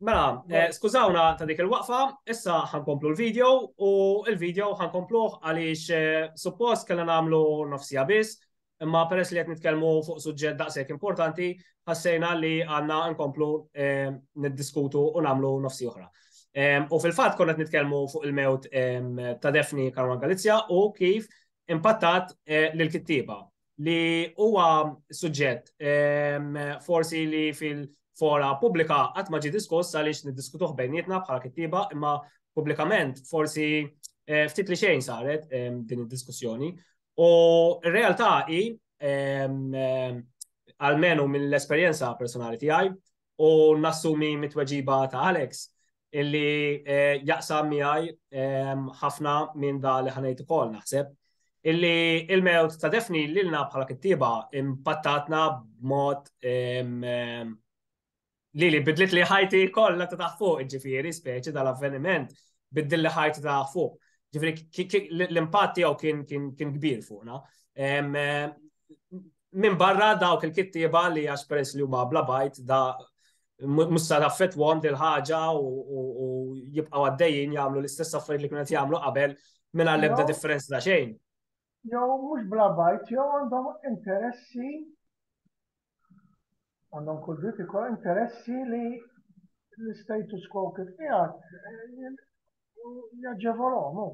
Mela, eh, skużawna ta' dik il-waqfa, issa ħankomplu l-video u l-video ħankompluħ għaliex eh, suppost kellna nagħmlu nofsija biss, imma peress li qed nitkellmu fuq suġġett daqshekk importanti, ħassejna li għandna nkomplu eh, niddiskutu u nagħmlu nofsi oħra. U fil-fatt konna qed nitkellmu fuq il-mewt ta' Defni Karwan Galizja u kif impattat l kittiba li huwa suġġett ehm, forsi li fil-fora pubblika qatt ma ġi diskuss għaliex niddiskutuh bejnietna bħala kittiba imma pubblikament forsi eh, ftit li xejn saret ehm, din id-diskussjoni. U r-realtà hi ehm, għalmenu mill-esperjenza personali tiegħi u nassumi mit-tweġiba ta' Alex illi eh, jaqsam miegħi ehm, ħafna minn da li ħanejt ukoll naħseb illi il-mewt ta' defni lilna bħala kittiba impattatna b'mod ehm, ehm, li li bidlit li ħajti kollha ta' taħt fuq, ġifieri speċi dal-avveniment biddil li ħajti ta' taħt fuq. Ġifieri l-impatt tiegħu kien kbir fuqna. minn barra dawk il-kittieba li għax peress li huma bla bajt da musta taffetwom dil ħaġa u jibqaw għaddejjin jagħmlu l-istess affarijiet li kienet jagħmlu qabel minn għall-ebda differenza ta' xejn. Jew mhux bla bajt, jew għandhom interessi għandhom kull dritt ikoll interessi li l-status quo kif qiegħed eh, jaġġevolhom.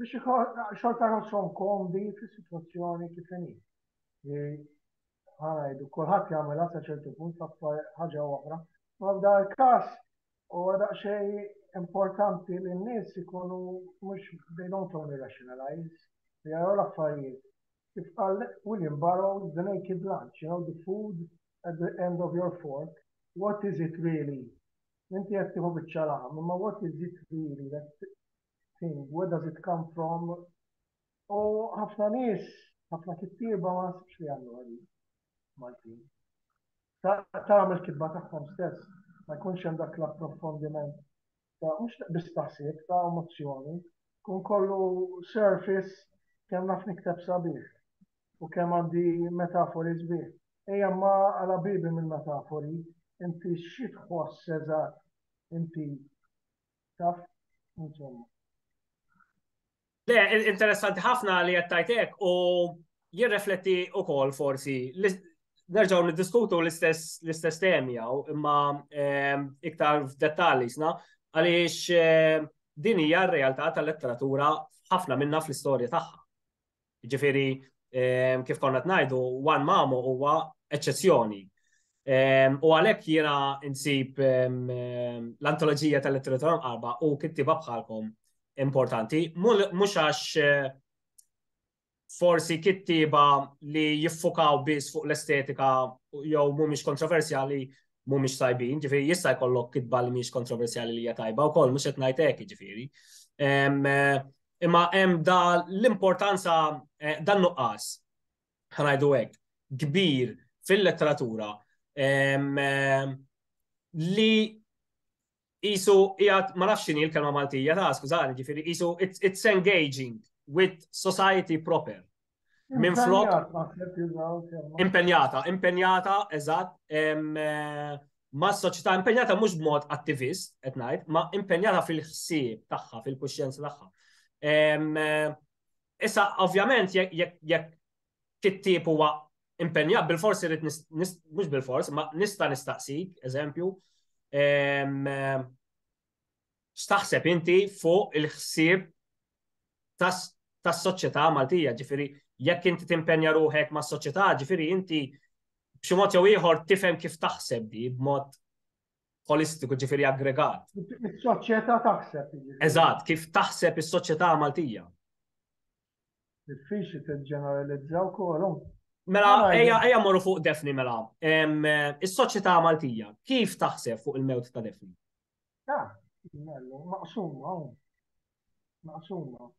biex xorta jħossom komdi fis-sitwazzjoni kif inhi. Li ħanajdu kulħadd jagħmilha sa ċertu punt l-aktar ħaġa oħra. Ma f'dan il-każ huwa daqsxejn importanti li n-nies ikunu mhux they don't only rationalize, li jaraw l-affarijiet. Kif qal William Burroughs, the naked lunch, you know, the food at the end of your fork, what is it really? Inti qed tieħu biċċa laħam, imma what is it really that thing, where does it come from? U ħafna nies, ħafna kittieba ma nasibx li għandu għadi Maltin. Tagħmel kitba tagħhom stess, ma jkunx hemm dak l-approfondiment ta' mhux biss taħsib ta' emozzjoni, kun kollu surface kemm naf nikteb sabiħ u kemm għandi metafori sbieħ. Ejja ma għala bibi minn metafori, inti xi tħoss eżatt inti taf, insomma. Le, interessanti ħafna li jattajtek u jirrefletti u kol forsi nerġaw niddiskutu l-istess temi għaw imma ehm, iktar f'dettali sna għaliex ehm, din hija r-realtà tal-letteratura ħafna minna fl-istorja tagħha. Ġifieri kif konna qed ngħidu, Juan Mamo huwa eċċezzjoni. U għalhekk jiena nsib l-antoloġija tal-letteratura mqarba u kittiba bħalkom importanti, mhux għax forsi kittiba li jiffukaw biss fuq l-estetika jew mhumiex kontroversjali mhumiex tajbin, ġifieri jista' jkollok kitba li mhix kontroversjali li hija tajba wkoll mhux qed ngħid hekk ġifieri. imma hemm da l-importanza eh, dan nuqqas ħanajdu hekk kbir fil-letteratura li jisu jgħat ma nafx xini l-kelma Maltija ta' skużani ġifiri jisu it's, it's engaging with society proper Minn flok. Impenjata, impenjata, eżatt, eh, ma' soċjetà impenjata mhux b'mod attivist, qed ngħid, ma' impenjata fil-ħsieb tagħha, fil-kuxjenza tagħha. Eh, issa, ovvjament, jekk kittib huwa impenjat, bil-forsi rrit, mhux bil-forsi, ma nista' nistaqsik, eżempju, eh, X'taħseb inti fuq il-ħsieb tas-soċjetà Maltija, ġifieri jekk inti timpenja ruħek mas-soċjetà, ġifieri inti b'xi mod jew ieħor tifhem kif taħseb di b'mod holistiku ġifieri aggregat. Is-soċjetà taħseb. Eżatt, kif taħseb is-soċjetà Maltija? Diffiċli tiġġeneralizza wkoll. Mela, ejja morru fuq Defni mela. Is-soċjetà Maltija, kif taħseb fuq il-mewt ta' Defni? Ah, mellu, maqsuma, maqsuma.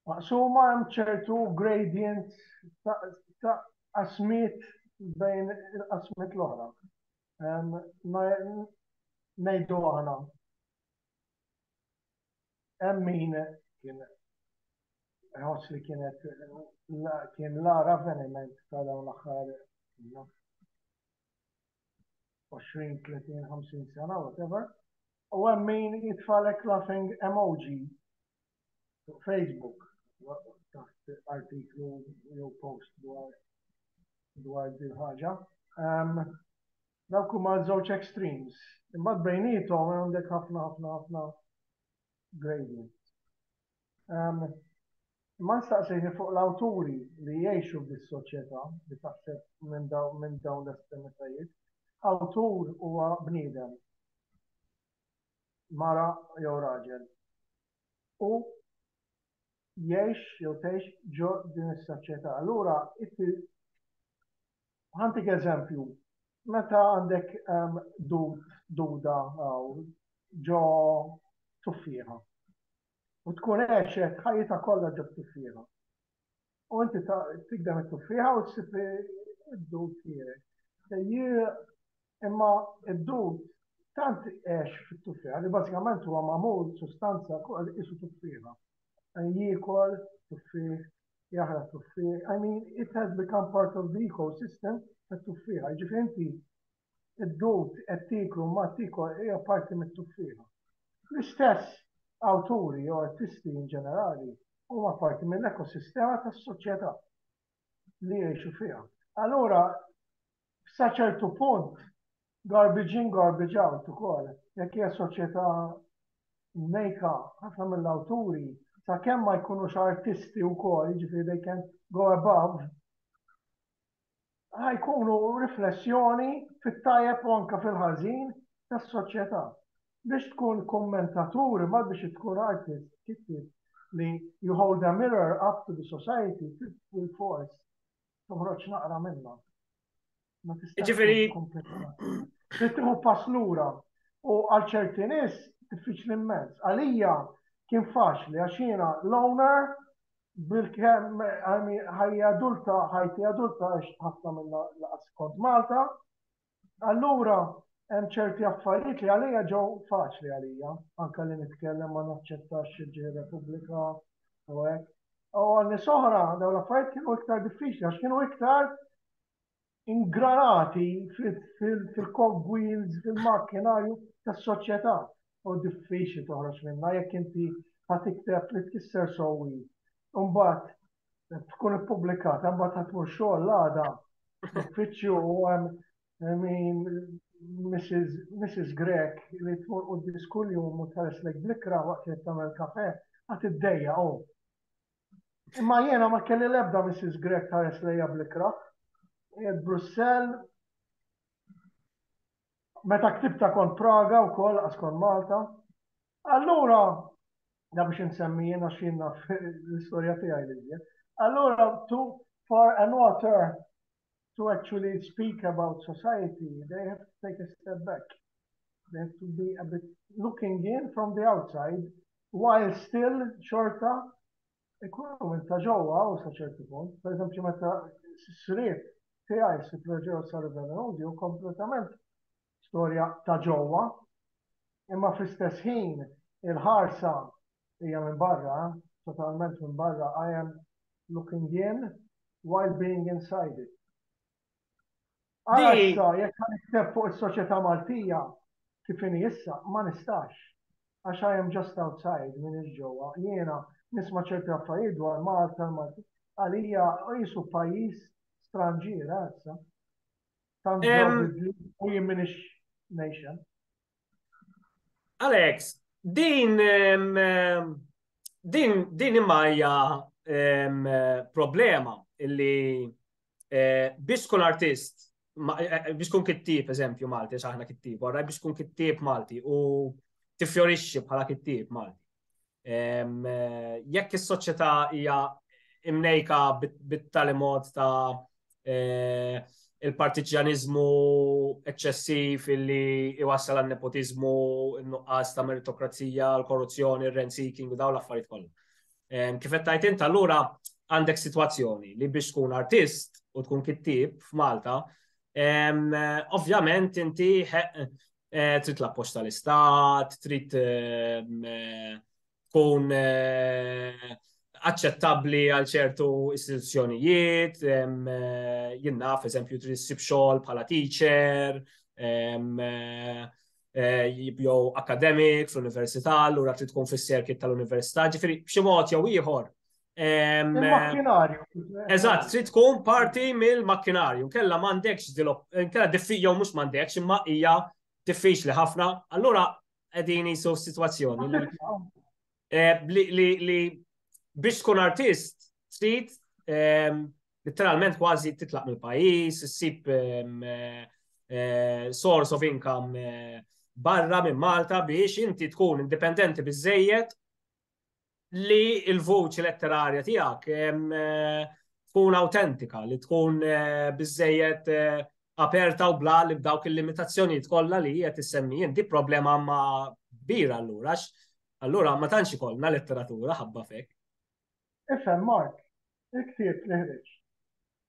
Maqsuma hemm ċertu gradient ta' asmit bejn il-qasmit l-oħra. Nejdu għana. hemm min kien ħoss li kienet kien l-ara avveniment ta' dawn l-aħħar 20, 30, 50 sena, whatever. U hemm min jitfalek laughing emoji fuq Facebook taħt artiklu jew post dwar dwar din ħaġa. Dawk huma ż-żewġ extremes. Imbagħad bejniethom għandek ħafna ħafna ħafna gradient. Imma nistaqsini fuq l-awturi li jgħixu f'dis-soċjetà li taħseb minn dawn l-estremitajiet. Awtur huwa bniedem, mara jew raġel, u jgħix jew tgħix ġo din is-soċjetà. Allura inti ħantik eżempju, meta għandek ehm, duda ġo tuffiħa u tkun għexet ħajjita kollha ġo tuffiħa. U inti tigdem it-tuffiħa u ssib id-dud tiegħek. Imma id-dud tant għex fit-tuffiħa li bażikament huwa magħmul sustanza kważi qisu tuffiħa. Jiekol tuffiħ, jaħraq tuffiħ. I mean, it has become part of the ecosystem tat-tuffiħa. Jiġifieri inti id-dud qed tiklu ma tikol hija parti mit-tuffiħa. L-istess awturi jew artisti in ġenerali huma parti mill-ekosistema tas-soċjetà li jgħixu fiha. Allura Sa ċertu punt, garbage in, garbage out ukoll. Jekk hija soċjetà mnejka ħafna mill-awturi, sakemm ma jkunux artisti wkoll, jiġifieri they can go above, ħajkunu riflessjoni fit-tajjeb u anke fil-ħażin tas-soċjetà. Biex tkun kummentatur imma biex tkun artist, kittieb li you hold a mirror up to the society, fil-fors toħroġ naqra minnha. Ma tistax Ġifieri- tkun kompletament. Trid tieħu pass lura u għal ċerti nies diffiċli immens. Għalija kien faċli għax jiena l-owner bil-kemm għami ħajja adulta, ħajti adulta għax ħafna minnha laqas kont Malta, Allura hemm ċerti affarijiet li għalija ġew faċli għalija, anke li nitkellem ma naċċettax ġej Repubblika u hekk. U għal nies oħra dawn l-affarijiet kienu iktar diffiċli għax kienu iktar ingranati fil-cogwheels, fil-makkinarju tas-soċjetà. u diffiċli toħroġ minnha jekk inti ħa tikteb li tkisser sewwi. Imbagħad tkun ippubblikata, imbagħad ħadd tmur xogħol għada uffiċċju u hemm Mrs. Grek li tmur u diskull jum u tħares lek blikra waqt li tagħmel kafe ħadd iddejja u. Oh. Imma jiena ma kelli l-ebda Mrs. Grek tħares lejja blikra. Brussell meta ktibta kont Praga wkoll qas kont Malta. Allura da biex insemmi jien għax jien naf l-istorja tiegħi li Allura to for an author to actually speak about society, they have to take a step back. They have to be a bit looking in from the outside while still xorta Ikunu minn ta' ġewwa hawn sa ċertu punt. Per eżempju meta s-sriep tiegħi Sir Flogeos sa River Road jew kompletament storja ta' ġewwa imma fl-istess ħin il-ħarsa hija minn barra, totalment minn barra, I am looking in while being inside it. Għala issa, jekk għan ikteb fuq il-soċieta Maltija, kifini issa, ma nistax. Għax I am just outside, minn il-ġowa. Jena, nisma ċerti għaffajiet dwar Malta, Malti. Għalija, u jisu pajis stranġira, issa. Tanġaw bidli, u jimminix nation. Alex, din din din imajja problema illi eh, biex kun artist eh, eh, biex kun kittib eżempju Malti, xaħna kittib, għarra biex kun kittib Malti u tifjorixxi bħala kittib Malti. Jekk is-soċjetà hija imnejka bit-tali mod ta' eh, il-partiġjaniżmu eċċessiv illi iwassal għal nepotiżmu, nuqqas ta' meritokrazija, l-korruzzjoni, r rent seeking u daw l-affarijiet kollha. Kif qed tajt int allura għandek sitwazzjoni li biex tkun artist u tkun kittib f'Malta, ovvjament inti Eh, trid l-appoġġ tal-istat, trid ehm, eh, tkun eh, aċċettabbli għal ċertu istituzzjonijiet, ehm, jien naf eżempju trid issib xogħol bħala teacher, ehm, jew akademik fl-università, allura trid tkun fis-serkit tal-università, ġifieri b'xi mod jew ieħor Il-makkinarju. Eżatt, trid tkun parti mill-makkinarju. Kella m'għandekx kella diffiċ jew mhux m'għandekx imma hija diffiċli ħafna. Allura qegħdin jisu situazzjoni eh, li biex tkun artist trid ehm, literalment kważi titlaq mill-pajjiż, issib ehm, eh, eh, source of income barra minn Malta biex inti tkun indipendenti biżejjed li l-vuċi letterarja tiegħek tkun autentika, li tkun eh, bizzejet eh, aperta u bla li b'dawk il-limitazzjonijiet kollha li qed issemmi inti problema ma kbira allura allura ma tantx ikollna letteratura ħabba fek. Ifhem Mark, il-ktieb li ħriġ.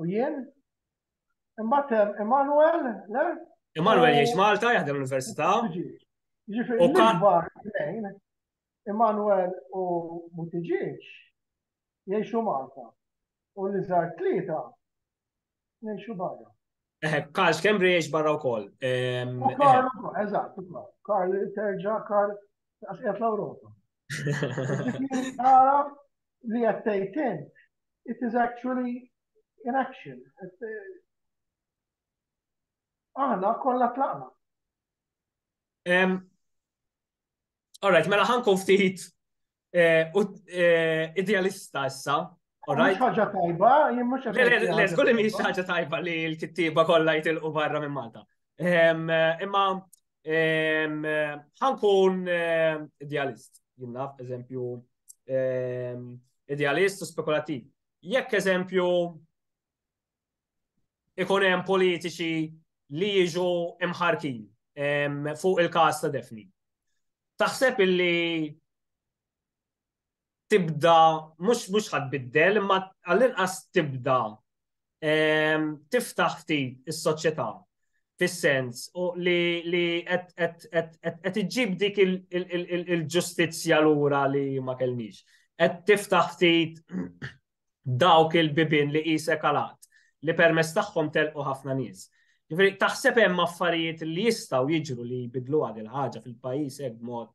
U jien? Imbagħad Emanuel, le? Emanuel jgħix Malta, jaħdem l-Università. Ġifieri l-ikbar tnejn, Emanuel u Butiġieġ jgħixu Malta. U li żar tlieta jgħixu barra. Eh, Karl Schembri jiex barra u koll. Karl, eżat, Karl, terġa, Karl, għasqet l-Europa. Nara li għattejtin, it is actually in action. Eh, aħna kollha tlaqna. All right, mela ħanku ftit eh, eh, idealista issa, Mhux ħaġa tajba, jien mhux Le, żgur li mhix ħaġa tajba li l-kittieba kollha jitilqu barra minn Malta. Ehm, imma ehm, ħankun ehm, idealist, jien naf, eżempju, idealist u spekulativ. Jekk eżempju ikun hemm politiċi li jiġu imħarkin fuq il-kas ta' defni. Taħseb illi tibda, mhux mhux ħadd biddel, imma għall-inqas tibda ehm, tiftaħ ftit is-soċjetà fis-sens li li qed iġġib dik il-ġustizzja lura li ma kellniex. Qed tiftaħ ftit dawk il-bibin li qisek għalat li permess tagħhom telqu ħafna nies. Ġifieri taħseb hemm affarijiet li jistgħu jiġru li jbidlu għad il-ħaġa fil-pajjiż hekk mod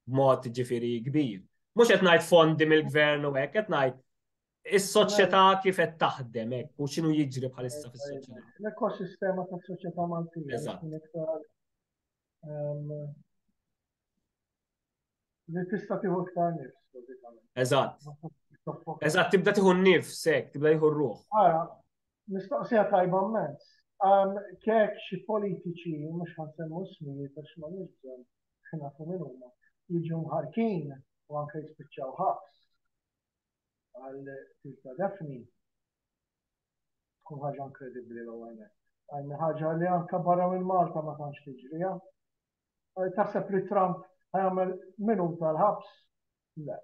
b'mod ġifieri kbir. Mhux qed ngħid fondi mill-gvern u hekk, qed ngħid is-soċjetà kif qed taħdem hekk u x'inhu jiġri bħalissa fis-soċjetà. L-ekosistema tas-soċjetà Maltija tkun iktar ehm, li tista' tieħu iktar nifs, bażikament. Eżatt. Eżatt, tibda tieħu nifs hekk, tibda tieħu ruħ. Ara, mistoqsija tajba mmens. Ehm, kek xi politiċi mhux ħansemmu smijiet għax ma nix bżonn Aħna nafu min huma. Jiġu mħarkin u anke jispiċċaw ħabs għal tilta defni. Tkun ħaġa inkredibbli l għajna. Għajna ħaġa li anke barra minn Malta ma tantx tiġrija. Taħseb li Trump ħajamel minum tal-ħabs? Le.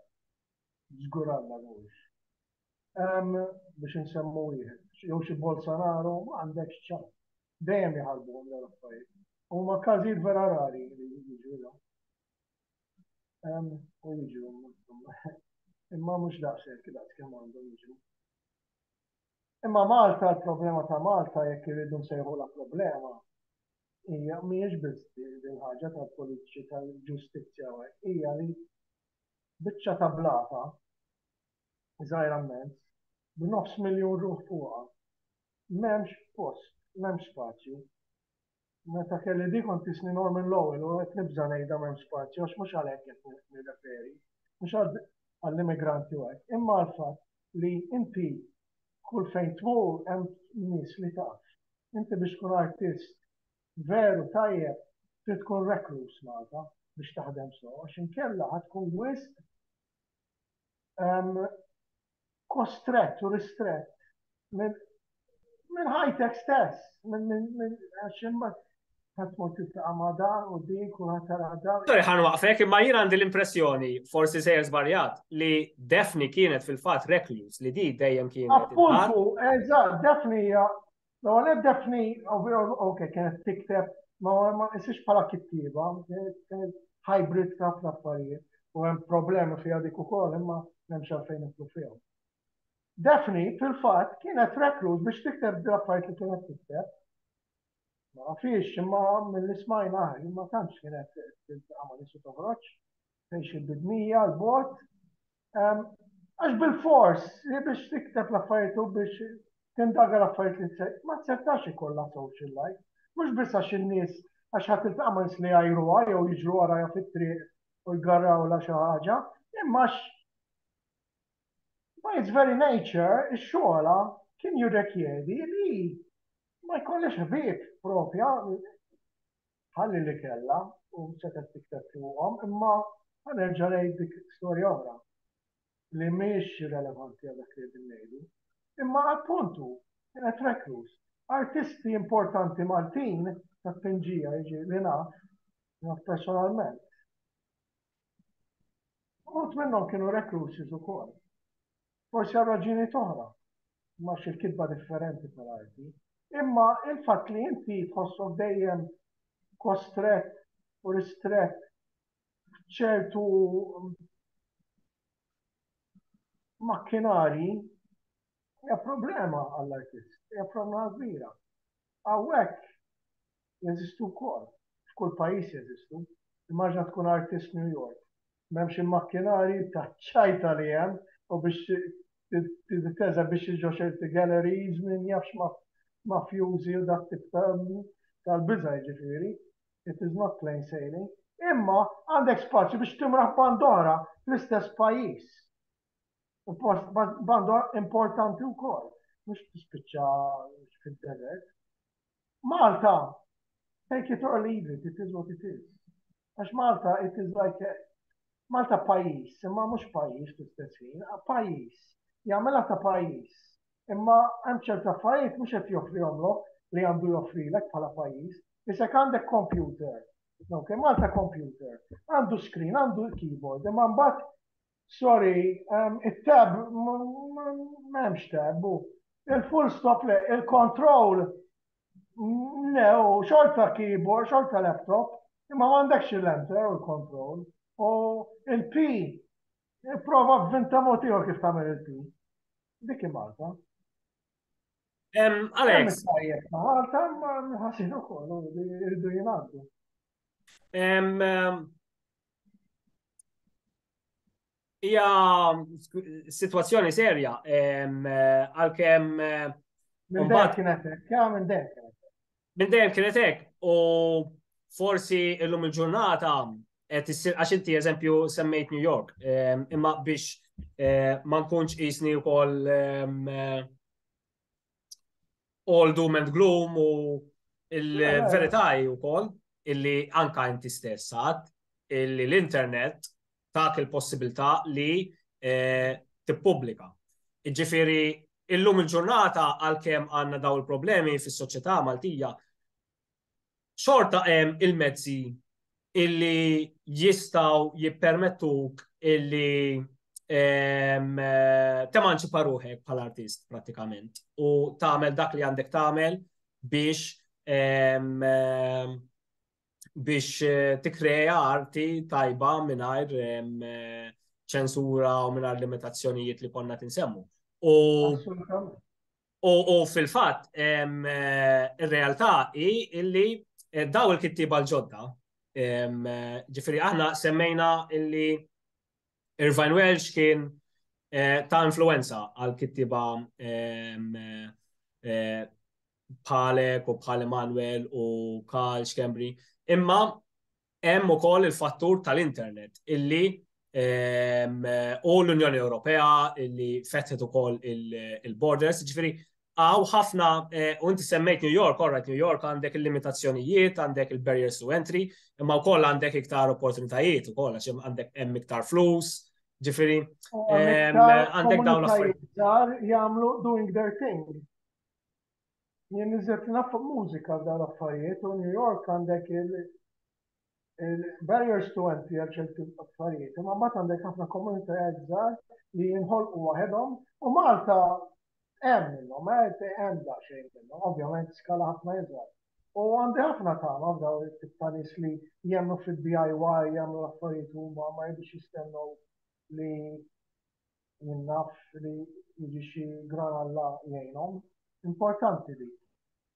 Zgur għalla mhuwiex. Biex insemmu wieħed, jew xi Bolsonaro għandek ċan. dejjem jħarbuhom dawn l-affarijiet. Huma każijiet vera rari li jiġu U jiġu imma mhux daqshekk daqs kemm għandhom jiġu. Imma Malta, l-problema ta' Malta jekk irridu nsejħu la problema hija mhijiex biss din ħaġa tal-politiċi tal-ġustizzja hija li biċċa ta' blata żgħira mezz b'nofs miljun ruħ fuqha M'hemmx post, m'hemmx spazju. Meta kelli di kont isni Norman Lowell u qed nibża' ngħidha m'hemmx spazju għax mhux għal hekk qed nirreferi, mhux għall-immigranti u hekk, imma għall-fatt li inti kull fejn tmur hemm nies li taf. Inti biex tkun artist veru tajjeb trid tkun rekluż Malta biex taħdem sew għax inkella ħa tkun wisq kostrett u ristrett minn ħajtek stess, minn għax imbagħad ħadd mod titlaqa' ma' dan u din kulħadd tara dan. Sorry ħan waqfek, imma jien għandi l-impressjoni, forsi sejjer żbaljat, li Defni kienet fil-fatt recluse li di dejjem kienet. Appuntu, eżatt, Defni hija L-ewwel qed Daphne ok kienet tikteb ma ma isix bħala kittieba, kienet hybrid ta' ħafna affarijiet u hemm problemi fiha dik ukoll imma m'hemmx għalfejn nitlu fihom. Daphne fil-fatt kienet rekluż biex tikteb l-affarijiet li kienet tikteb. Ma fiex imma mill-ismajna ma tantx kienet tagħmel isu toħroġ. fejn xi bidnija l bot ehm, għax bil-fors li biex tikteb l-affarijiet u biex tindaga l-affarijiet li tsej, ma tsetax ikollha social life. Mhux biss għax in-nies għax ħadd iltaqa' ma' li għajruha jew jiġru warajha fit-triq u jgarrawla xi ħaġa, imma by its very nature ix-xogħla kien jirrekjedi li ma jkollix ħbieb propja ħalli li kellha u setgħet tikteb fuqhom, imma ħa nerġa' ngħid dik storja oħra li mhijiex relevanti għal dak li qegħdin ngħidu. Imma appunt hu kienet reklus. Artisti importanti Maltin ta' tpinġija jiġi li naf, naf personalment. Uħut minnhom kienu recluses ukoll. Forsi għal raġini toħra, ma xil-kitba differenti tal-arti. Imma il-fatt li inti tħossok dejjem kostret u ristret ċertu makkinari hija problema għall-artist, hija problema kbira. Hawnhekk jeżistu wkoll, f'kull pajjiż jeżistu. Immaġina tkun artist New York, m'hemmx il-makkinarji taċ-ċajta li hemm u biex teżebixxi xi ġo ċerti galleries min jaf x'mafjużi u dak tip ta' tal-biża' jiġifieri, it is not plain sailing. Imma għandek spazju biex timraħ band oħra fl-istess pajjiż. U post band importanti wkoll, mhux tispiċċa fid-deżert. Malta, take it or leave it, it is what it is. Għax Malta, it is like a... Malta pajis, imma mux pajis fl-istess ħin, pajis, jgħamela ta' pajis. Imma hemm ċerta affarijiet mhux qed joffri omlok li għandu joffrilek bħala pajis. Isek għandek computer, ok, Malta computer, għandu screen, għandu keyboard, imma mbagħad Sorry, it-tab, m'hemmx tab, hu. Il-full stop le, il-control le, hu xorta keyboard, xorta laptop, imma m'għandekx il-enter u l-control. U il-P, prova b'vinta mod ieħor kif tagħmel il-P. Dik hi Malta. Alex. Malta ma nħassinu kollu, irdu jingħaddu. Hija situazzjoni serja għalkemm Minn dejjem kienet hekk, ja minn dejjem kienet hekk. Minn dejjem kienet hekk u forsi illum il-ġurnata qed issir għax inti eżempju semmejt New York, imma biex ma nkunx qisni wkoll all doom and gloom u il-verità u kol illi anka inti stess għad illi l-internet tak il-possibilità li eh, tippubblika. Iġifiri, illum il-ġurnata għal-kem għanna daw il-problemi fis soċjetà Maltija, xorta hemm il-mezzi illi jistaw jippermettuk illi ehm, temanċipa ruħek bħal artist pratikament u tagħmel dak li għandek tagħmel biex ehm, ehm, biex eh, tikreja arti tajba mingħajr eh, ċensura u mingħajr limitazzjonijiet li konna tinsemmu. U U fil-fatt, ir-realtà hi illi eh, daw il-kittiba l-ġodda, ġifiri aħna semmejna illi Irvine Welsh kien eh, ta' influenza għal kittiba eh, bħalek u bħal Emanuel u Karl Schembri. Imma Hemm ukoll il-fattur tal-internet illi ehm, u l-Unjoni Ewropea illi fetħet ukoll il-borders, ġifieri għaw ħafna, eh, u inti semmejt New York, orrajt New York għandek il-limitazzjonijiet, għandek il-barriers to entry, imma wkoll għandek iktar opportunitajiet ukoll għax għandek hemm iktar flus, ġifieri ehm, għandek dawn l-affarijiet. Jagħmlu doing their thing. Jien niżilt naf mużika f'dan l-affarijiet u New York għandek il-barriers to entry għal ċerti affarijiet, imma mbagħad għandek ħafna komunitajiet żgħar li jinħolqu waħedhom u Malta hemm minnhom, hemm daqsxejn minnhom, ovvjament skala ħafna iżgħar. U għandi ħafna tagħma f'daw it-tip ta' nies li jemnu fid-DIY, jagħmlu l-affarijiet huma ma jibux jistennew li jien naf li jiġi xi gran Alla jgħinhom. Importanti li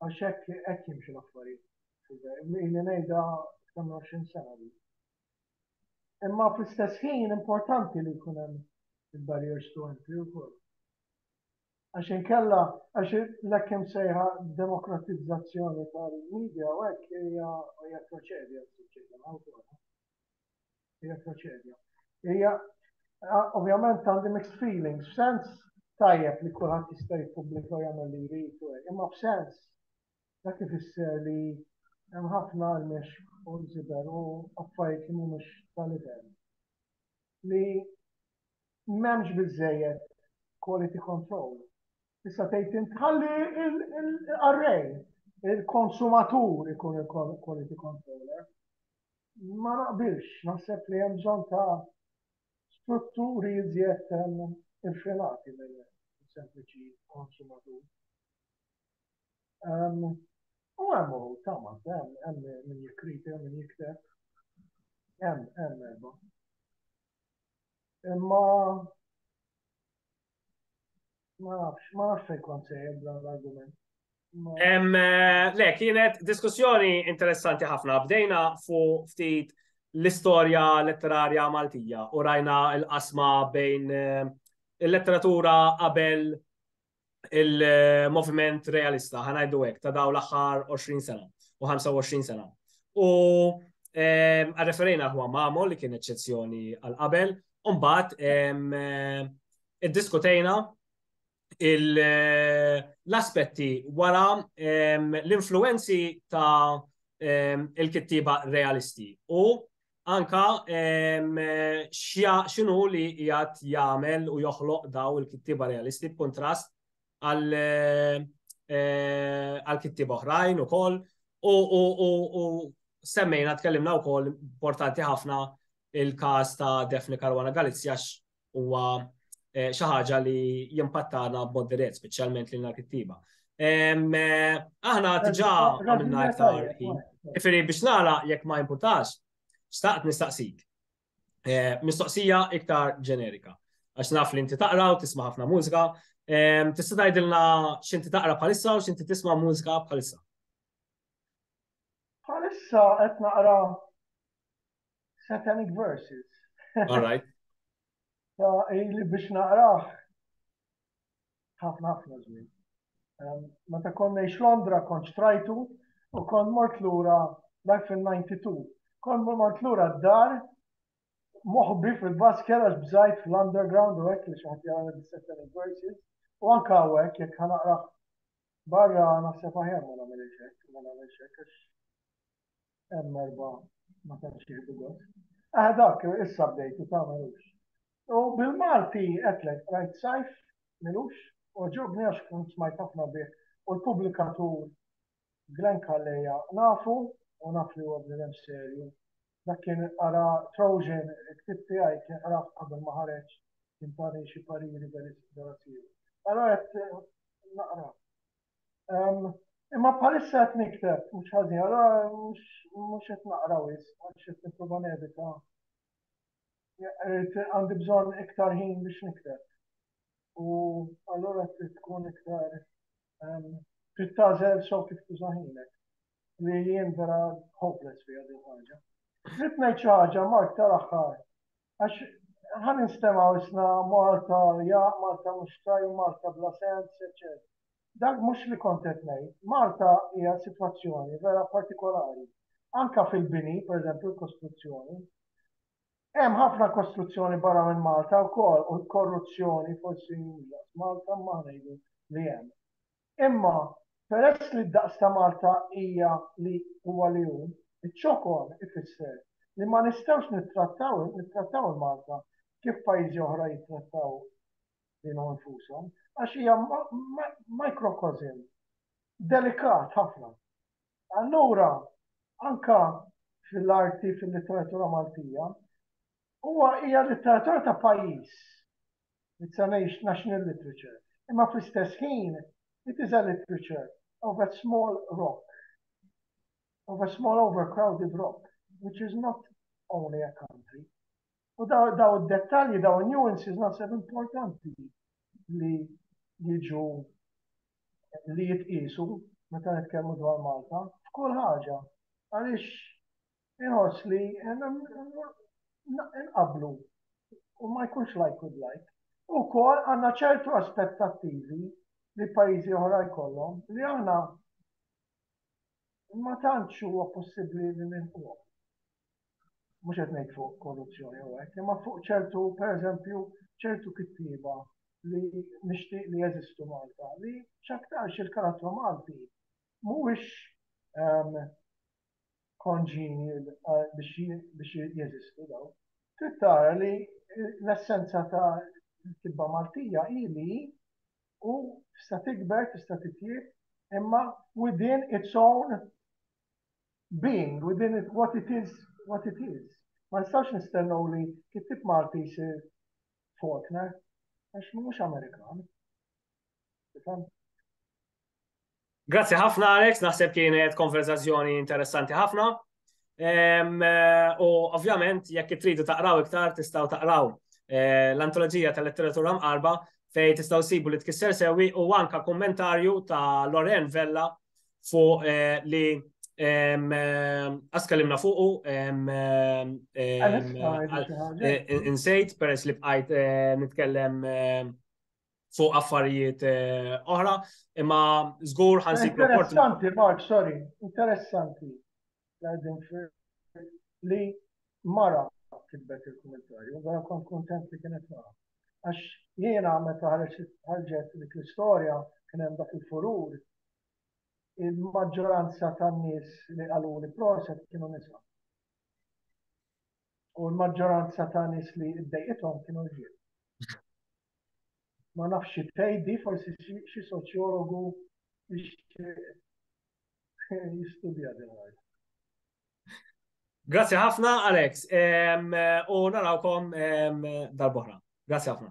għax hekk hekk jimxu l-affarijiet. Li ngħidha kemm 20 sena li. Imma fl-istess ħin importanti li jkun hemm il-barriers to entry wkoll. Għax inkella, għax l-ekkim sejħa demokratizzazzjoni tal-medja u hekk hija proċedja s-soċjetà Hija traċedja. Hija ovvjament għandi mixed feelings, f'sens tajjeb li kulħadd jista' jippubblika jagħmel li jrid, imma f'sens dak ifisser li hemm ħafna għalmex u nżiber u affarijiet li mhumiex tal-livell. Li m'hemmx biżejjed quality control Tista' tgħid int ħalli il-qarrej, il-konsumatur ikun il-quality controller. Ma naqbilx, naħseb li hemm bżonn ta' strutturi iżjed infilati minn sempliċi konsumatur. U hemm uħud tama, hemm hemm min jikkriti, hemm min jikteb. Hemm hemm erba'. Imma Ma nafx, ma nafx fejn kont sejjer dan l-argument. Eh, le, kienet diskussjoni interessanti ħafna. Bdejna fu ftit l-istorja letterarja Maltija u rajna l-qasma bejn eh, il-letteratura qabel il-moviment realista, ħanajdu hekk, ta' daw l-aħħar 20 sena u 25 sena. U eh, għarreferejna ħwa Mamo li kien eċċezzjoni għal qabel, Umbat, id-diskutejna l-aspetti wara l-influenzi ta' il-kittiba realisti u anka xinu li jgħat jgħamel u joħloq daw il-kittiba realisti b'kontrast għal-kittiba oħrajn u koll u semmejna tkellimna u koll importanti ħafna il-każ ta' Daphne Caruana Galizia huwa eh, xi ħaġa li jimpattana b'mod dirett, speċjalment lil l-kittiba. Eh, aħna diġà għamilna iktar ħin. Ifiri biex nara jekk ma jimpurtax, staqt nistaqsik. Eh, mistoqsija iktar ġenerika. Għax naf li inti taqra u tisma' ħafna mużika. Tista' tgħidilna x'inti taqra bħalissa u x'inti tisma' mużika bħalissa. Bħalissa qed naqra Satanic Verses. All right. Ta' li biex naqraħ ħafna ħafna żmien. Ehm, meta konna ix Londra kont xtrajtu u kon mort lura dak fil-92. Kon mort lura d-dar moħbi fil-basket għax bżajt fl-underground u hekk li xi ħadd jara l-Satanic Verses u anke hawnhekk jekk ħanaqraħ barra naħseb aħjar ma nagħmel hekk, ma nagħmel hekk għax hemm erba' ma tantx jieħdu gost. Ah dak issa bdejtu tagħmelux. U bil-Malti qedlek rajt sajf milux oġobni għax kont smajt ħafna bih u l-pubblikatur Glenn Calleja nafu u naf li huwa bniedem serju. Dak kien qara Trojan il-ktieb tiegħi kien qrah qabel ma ħareġ kien tani xi pariri vera serju. Allora qed naqra Imma bħalissa qed nikteb, mhux ħażin, allura mhux qed naqra wisq, għax qed nipprova nevita. Għandi bżonn iktar ħin biex nikteb. U allura trid tkun iktar trid tażel so kif tuża ħinek. Li jien vera hopeless fiha din ħaġa. Trid ngħid xi ħaġa Mark tal-aħħar Għax ħa ninstemgħu isna Malta ja, Malta mhux tajba, Malta bla sens, eċċetera. Dak mhux li kont qed ngħid. Malta hija sitwazzjoni vera partikolari. Anke fil-bini, pereżempju l-kostruzzjoni. Hemm ħafna kostruzzjoni barra minn Malta wkoll u l-korruzzjoni forsi mhux daqs Malta imma ħa ngħidu li hemm. Imma, peress li d-daqs ta' Malta hija li huwa li hu, iċ-ċokon ifisser li ma nistgħux nittrattaw nittrattaw il-Malta kif pajjiżi oħra jittrattaw lilhom infushom, għax hija microcosm delikat ħafna. Allura, anke fil-arti, fil-litteratura Maltija, Huwa, hija litteratura ta' pajjiż. It's an age national literature. Imma fl-istess ħin, it is a literature of a small rock, of a small overcrowded rock, which is not only a country. U daw id-dettalji, daw il-nuances naħseb importanti li jiġu li jitqisu meta nitkellmu dwar Malta f'kull ħaġa. Għaliex Inħoss li nqabblu u ma jkunx like with like. Ukoll għandna ċertu aspettattivi li pajjiżi oħra jkollhom li aħna ma tantx huwa possibbli li nilqgħu. Mhux qed ngħid fuq korruzzjoni u hekk, imma fuq ċertu pereżempju ċertu kittieba li nixtieq li jeżistu Malta li x'aktarx il-karattru Malti mhuwiex ehm, congenial biex jeżistu dawn, trid tara li l-essenza ta' l-kitba Maltija hi li hi u tista' tikber, tista' titjieb, imma within its own being, within what it is, what it is. Ma nistgħux nistennew li kittieb Malti jsir Faulkner, għax mhux Amerikan. Tifhem? Grazzi ħafna Alex, naħseb kienet konverzazzjoni interessanti ħafna. U ovvjament jekk tridu taqraw iktar tistgħu taqraw eh, l-antoloġija tal-letteratura mqarba fej tistgħu sibu li tkisser sewi u anka kummentarju ta' Loren Vella fuq eh, li Askallimna fuqu, insejt, peress li bqajt eh, nitkellem eh, fuq affarijiet eh, oħra, imma żgur ħansi. Interessanti, Mark, sorry, interessanti li mara kitbet il-kommentarju, għara kon kontent li kienet mara. Għax jiena meta ħarġet dik l-istorja kien hemm dak il-furur, il-maġġoranza tan-nies li qalu li proset kienu nisa. U l-maġġoranza ta' nies li ddejqithom kienu rġiel. Ma nafx xi tgħid di forsi xi soċjologu jixtieq jistudja din l-art. Grazzi ħafna, Alex. U narawkom dal-boħra. Grazzi ħafna.